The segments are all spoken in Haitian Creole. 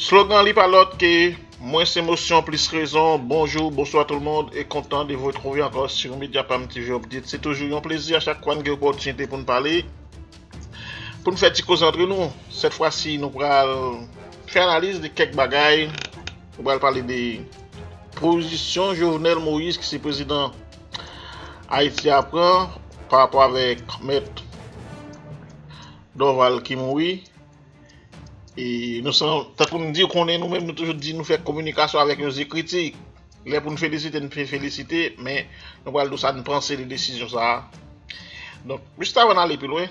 Slogan li pa lòt ke Mwen se Mosyon plis Rezon Bonjou, bonswa tout moun e kontan de vwotrouve ankò su medya pam TV Update Se toujou yon plezi a chak fwa n gen opòtinite pou n pale pou n fè ti koze antre nou Sèt fwa si nou pral fè analiz de kèk bagay Nou pral pale de pozisyon Jovenel Moïse ki se prezidan Ayiti a pran pa rapò avèk mèt Dorval ki mouri e nou san tankou nou di konnen nou menm nou toujou di nou fè kominikasyon avèk yon zye kritik lè pou nou felisite nou fè felisite men nou pral di w sa nou panse de desizyon sa a donk jis t avan n ale pi lwen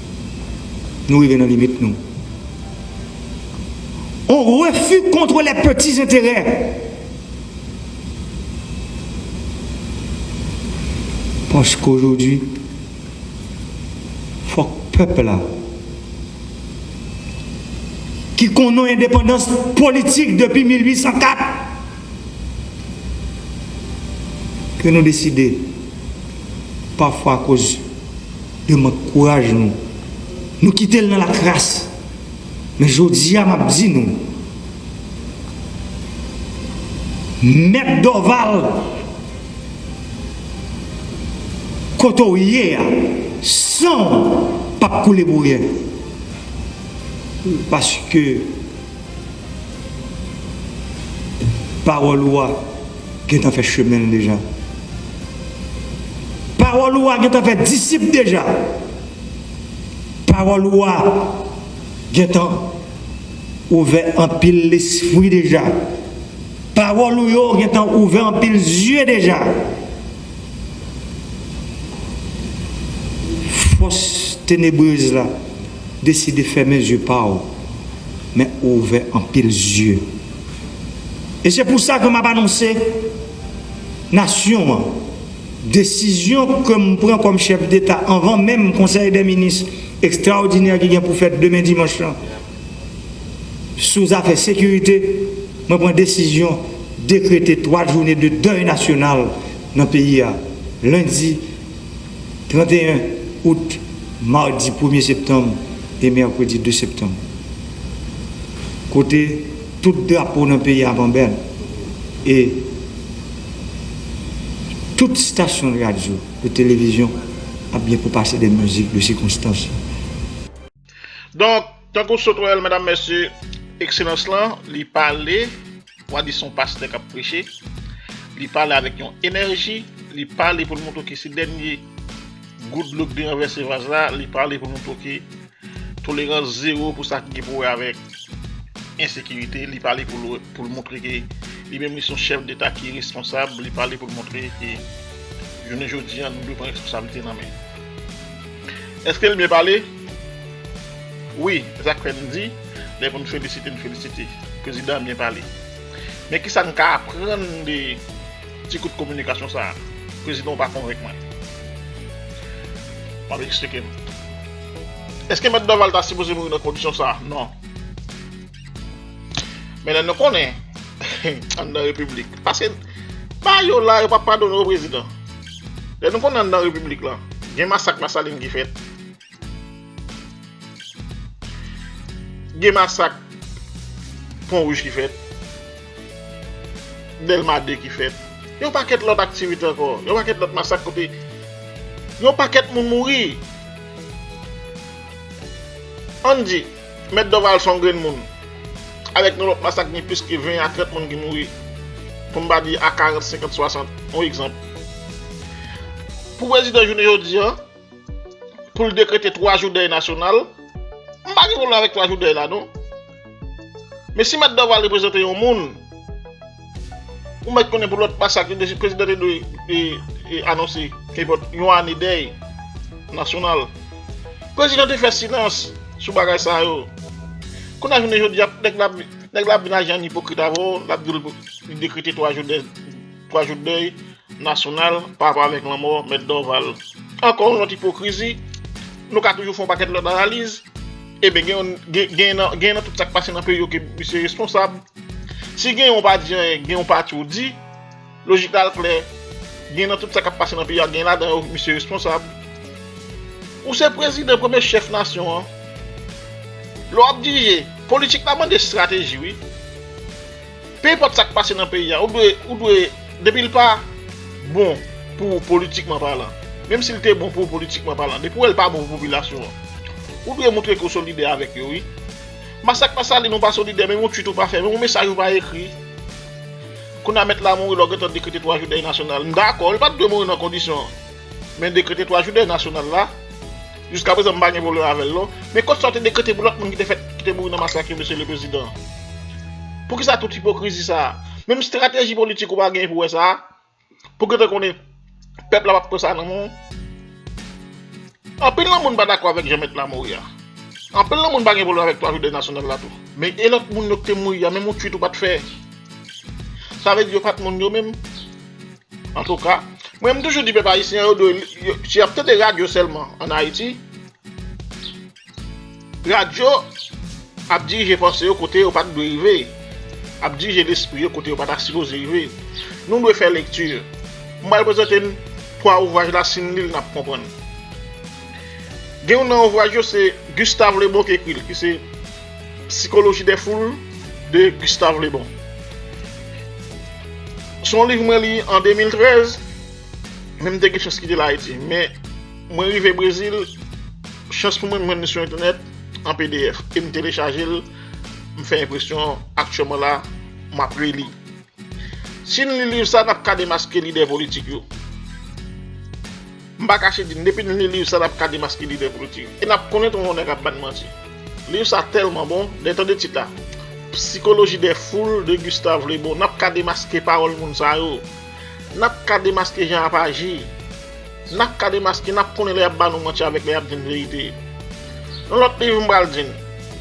Nou rive nan limit nou. On refu kontre lè peti zenterè. Paske ojodi, fòk pèp la, ki konn on endepandans politik depi 1804, ke nou deside, pafwa akoz. De mank kouraj nou. Nou kite l nan la kras. Men jodi a map di nou. Mèt Dorval kote w ye a san w pap koule pou ryen. Paske Pawòl ou a gentan fè chemen l deja. Pawòl ou a gentan fè disip deja. Pawòl ou a gentan ouvè anpil lespri deja. Pawòl ou yo gentan ouvè anpil zye deja. Fòs tenebrez la. Deside fèmen zye pa w, men ou ouvè anpil zye. E se pou sa ke m ap anonse nasyon an, desizyon ke m pran kòm chèf deta anvan menm konsèy dè minis ekstraòdinè ki gen pou fèt demen dimanch lan sou zafè sekirite, mwen pran desizyon dekrete 3 joune de dèy nasyonal nan peyi a, lendi. 31 out, madi premye septanm e mèkredi 2 septanm, kote tout drapo nan peyi ap an bèl e tout stasyon de radyo, de televizyon ap gen pou pase de mizik de sikonstans yo. Donk, tankou sot wè l medam mesye, ekselans lan li pale wa di son pastè kap preche, li pale avèk yon enèji, li pale pou l montre ke se dènye gout dlo k te ranvèse vaz la, li pale pou l montre ke tolerans zewo pou sa ki gen pou wè avèk ensekirite, li pale pou l montre ke li menm li son chèf deta ki responsab, li pale pou l montre ke jounen jodi an nou dwe pran responsabilite nan men. Eske l byen pale? Wi, sa k fè n di, lè pou n felisite n felisite, prezidan an byen pale. Men kisa n ka aprann de ti kout kominikasyon sa a? Prezidan ou pa konvenk mwen. M ap eksplike m. Eske mèt Dòval ta sipoze mouri nan kondisyon sa a? Non. Men lè nou konnen an nan repiblik Pase pa yo la yo pa padone yo prezidan Lè nou konnen an nan repiblik la Gen masak la salin ki fèt Gen masak pon wouj ki fèt Dèlma 2 ki fèt Yon pakèt lòt aktivite ankò Yon pakèt lòt masak kote Yon pakèt moun mouri An di Mèt Dòval son grenn moun. Avèk nou lòt la sa gnyn plis ke 20 a 30 moun ki mouri. Pou m pa di a 40, 50, 60. On egzanp. Pou prezidan jounen jodi an, pou l dekrete 3 jou dèy nasyonal, m pa gen pwoblèm avèk 3 jou dèy la non. Men si mèt Dòval reprezante yon moun. Ou mèt konnen pou lòt masak yo deje prezidan te dwe anonse kepòt yon ane dèy nasyonal. Prezidan te fè silans sou bagay sa yo. Kounye a jounen jodi a nèg la nèg la ap vin aji an ipokrit avè w, l ap di w li dekrete 3 jou dèy 3 jou dèy nasyonal pa rapò avèk lanmò mèt Dorval. Ankò yon lòt ipokrizi, nou ka toujou fè yon pakèt lòt analiz, eben gen yon gen gen nan tout sa k pase nan peyi yo ke misye responsab. Si gen yon pa di anyen, gen yon pa tou di, lojik la al klè, gen nan tout sa k ap pase nan peyi a gen ladan yo misye responsab. Ou se prezidan, premye chèf nasyon an, lè w ap dirije, politik la mande estrateji wi. Pe enpòt sa k pase nan peyi a, ou dwe, ou dwe, depi l pa bon pou ou politikman palan, menm si l te bon pou ou politikman palan, depi w wè l pa bon pou popilasyon an, ou dwe montre ke w solidè avèk yo wi. Masak pa salin ou pa solidè menm yon twit ou pa fè menm yon mesaj ou pa ekri kounya mèt la mouri lè w gentan dekrete 3 jou dèy nasyonal m dakò li pat dwe mouri nan kondisyon an men dekrete 3 jou dèy nasyonal la jiska prezan m pa gen pwoblèm avèl non men kot sa w te dekrete pou lòt moun ki te fèt ki te mouri nan masak yo mesye le prezidan poukisa tout ipokrizi sa menm strateji politik ou pa genyen pou wè sa. Pou ke te konnen pèp la pap pran sa nan men w. Anpil nan moun pa dakò avèk jan mèt la mouri a. Anpil nan moun pa gen pwoblèm avèk 3 jou dèy nasyonal la tou. Men e lòt moun yo ki te mouri a menm yon twit ou pat fè. Sa vle di yo pat moun yo menm. Antouka, mwen m toujou di pèp ayisyen yo dwe si yap tande radyo sèlman an Ayiti. Radyo ap dirije panse yo kote yo pa t dwe rive, ap dirije lespri yo kote yo pa ta sipoze rive. Nou dwe fè lekti. M pral prezante n 3 ouvraj la si n li l n ap konprann. Gen youn nan ouvraj yo se Gustave Le Bon ki ekri l ki se Psychologie des foules de Gustave Le Bon. Se yon liv mwen li an 2013 men m te gen chans kite l Ayiti men Mwen rive Brezil, chans pou mwen m jwenn li sou entènèt an pdf e m telechaje l, m fè enpresyon, aktyèlman la m ap reli. Si n li liv sa n ap ka demaske lidè politik yo. M pa kache di n depi n li liv sa n ap ka demaske lidè politik yo e n ap konnen ton yon nèg ap ba n manti. Liv sa tèlman bon, dèyè tande tit la, Psychologie des foules de Gustave Le Bon, n ap ka demaske pawòl moun sa yo, n ap ka demaske jan y ap aji. Nap ka demaske, nap konnen lè yap ba nou manti avèk lè yap di n verite. Nan lòt liv m pral di n,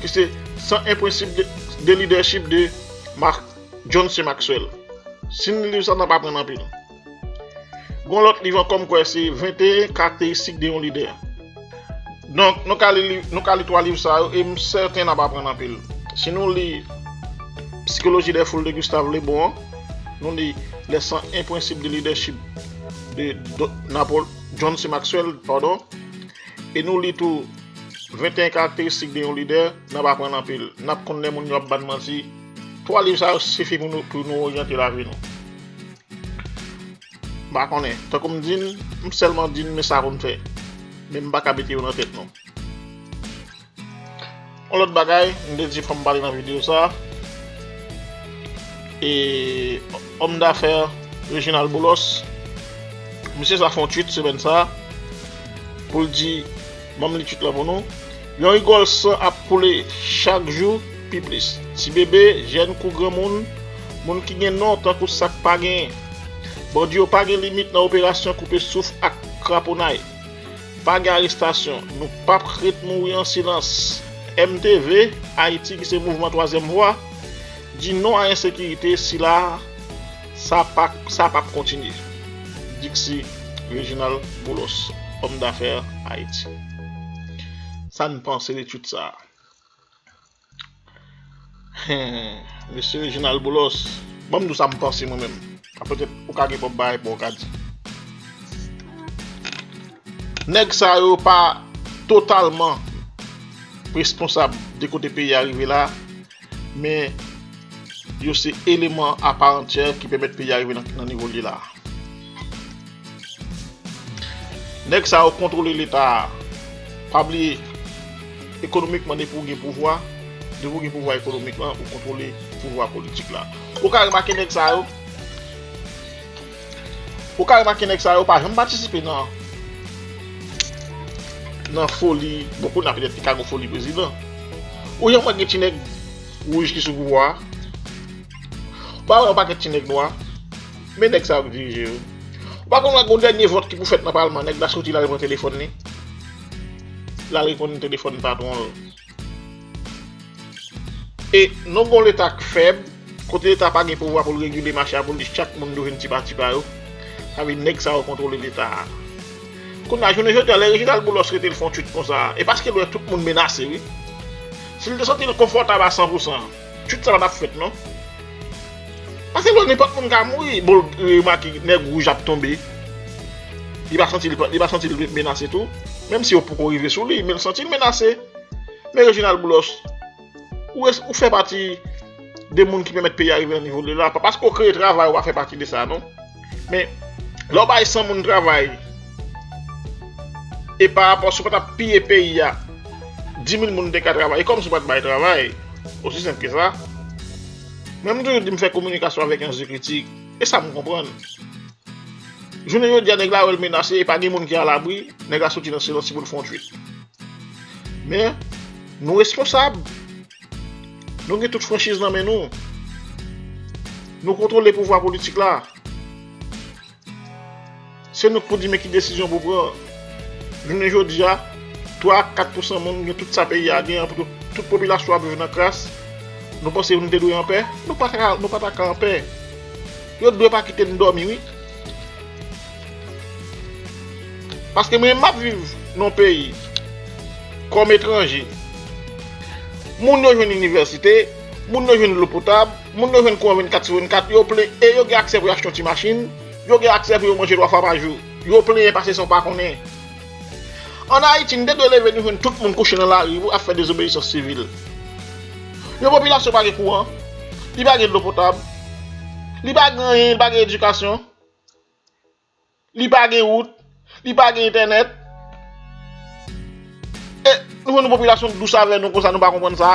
ki se 101 Principes de Leadership de Mark John C. Maxwell. Si n li liv sa nap aprann anpil. Gon lòt liv ankò m kwè se 21 Karakteristik de yon Lidè. Donk, nou ka li liv, nou ka li 3 liv sa yo e m sèten n ap aprann anpil. Si nou li Psychologie des foules de Gustave Le Bon an, nou li Les 101 principes de leadership de Napol, John C. Maxwell, padon, e nou li tou 21 caractéristiques de yon leader, n ap aprann anpil. N ap konn lè moun yo ap bann manti. 3 liv sa yo sifi pou nou oryante lavi nou. M pa konnen. Tankou m di n, m sèlman di n men sa pou n fè. Men m pa ka mete yo nan tèt nou. Yon lòt bagay, m te di fò m pale nan videyo sa. E òm dafè Reginald Boulos, misye sa fè yon tweet semèn sa pou l di, banm li tweet la pou nou. Yon rigòl san ap koule chak jou pi plis. Ti bebe, jèn kou granmoun, moun ki gen non tankou sa k pa gen. Bandi yo pa gen limit nan operasyon koupe souf ak kraponay. Pa gen arestasyon. Nou p ap ret mouri an silans. MTV, Ayiti ki se mouvman twazyèm vwa, di non a ensekirite sila a Sa pap kontinye. Dixi Reginald Boulos, Homme d'affaires Haïti. Sa n panse de tut sa? Hum, Mesye Reginald Boulos, ban m di w sa m panse mwen menm. Petèt ou ka gen pwòp bagay pa w ka di. Nèg sa yo pa totalman responsab de kote peyi a rive la. Men, yo se eleman aparantyè ki pèmèt peyi a rive nan nivo li ye la a. Nèg sa yo kontwole leta a. Pa bliye, ekonomikman depi ou gen pouvwa, depi ou gen pouvwa ekonomikman, ou kontwole pouvwa politik la. Ou ka remake nèg sa yo, Ou ka remake nèg sa yo pa janm patisipe nan nan foli, bon kounye a petèt li ka gon foli prezidan. Ou janm wè gen ti nèg wouj ki sou pouvwa a? Ou pa wè yon pakèt ti nèg nwa? Men nèg sa yo ki dirije yo. Ou pa konn wè gon dènye vòt ki pou fèt nan palman nèg la soti l al pran telefòn li? L al reponn telefòn patwon l. E non bon leta k fèb, kote leta pa gen pouvwa pou l regile mache a pou l di chak moun dwe vin tipa tipa yo, sa vle di nèg sa yo kontwole leta a. Kounye a jounen jodi a lè Reginald Boulos rete l fon twit konsa e paske l wè tout moun menase wi. Si l te santi l konfòtab a 100 pou 100. Tut sa pa tap fèt non. Pase bon nenpòt moun ka mouri bon li remake nèg wouj ap tonbe li pa santi li pa santi li menase tou menm si yo poko rive sou li menl santi l menase men Reginald Boulos ou fè pati de moun ki pèmèt peyi a rive nan nivo li la paske ou kreye travay ou pa fè pati de sa non. Men, lè w bay 100 moun travay, e pa rapò si w pa t ap piye peyi a, 10 mil moun te ka travay, e kòmsi w pa t bay travay, osi senp ke sa. Men m toujou di m fè kominikasyon avèk yon zye kritik, e sa m konprann. Jounen jodi a nèg la wè l menase e pa gen moun ki alabri, nèg la soti nan silansi pou l fè yon twit. Men, nou responsab. Nou gen tout franchiz nan men nou. Nou kontwole pouvwa politik la. Se nou k pou di men ki desizyon pou pran. Jounen jodi a, 3 ak 4 pousan moun gen tout sa peyi a gen anpito tout popilasyon ap viv nan kras. Nou panse nou te dwe anpè? Nou pa ta ka anpè. Yo dwe pa kite n dòmi wi. Paske mwen menm map viv nan peyi kòm etranje. Moun yo jwenn inivèsite, moun yo jwenn dlo potab, moun yo jwenn kouran 24 sou 24, yo plen e yo gen aksè pou yo achte yon ti machin, yo gen aksè pou yo manje 3 fwa pa jou. Yo plenyen pase sa w pa konnen. An Ayiti, nou te dwe leve nou jwenn tout moun kouche nan lari pou ap fè dezobeyisans sivil. Yon popilasyon pa gen kouran, li pa gen dlo potab, li pa gen anyen, li pa gen edikasyon, li pa gen wout, li pa gen entènèt. E nou jwenn yon popilasyon dous avè nou konsa nou pa konprann sa?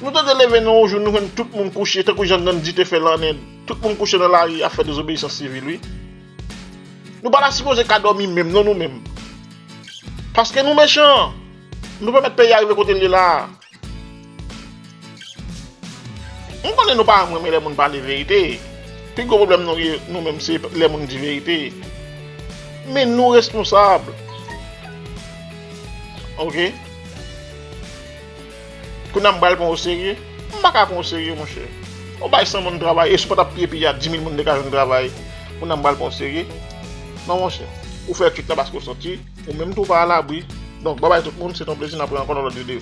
Nou te dwe leve nou yon jou nou jwenn tout moun kouche tankou jan Gandhi te fè l an End, tout moun kouche nan lari ap fè dezobeyisans sivil wi. Nou pa ta sipoze ka dòmi menm non nou menm. Paske nou mechan. Nou pèmèt peyi a rive kote l ye la a. M konnen nou pa renmen lè moun pale verite. Pi gwo pwoblèm nou gen nou menm se lè moun di verite. Men nou responsab. Ok. Kounye a m pral pran w serye? M pa ka pran w serye monchè. Ou bay 100 moun travay e si w pa t ap piye piya 10 mil moun te ka jwenn travay. Kounye a m pral pran w serye? Non monchè. Ou fè twit la paske w santi ou menm tou w pa alabri. Donk babay tout moun se te yon plezi n ap wè ankò nan lòt videyo.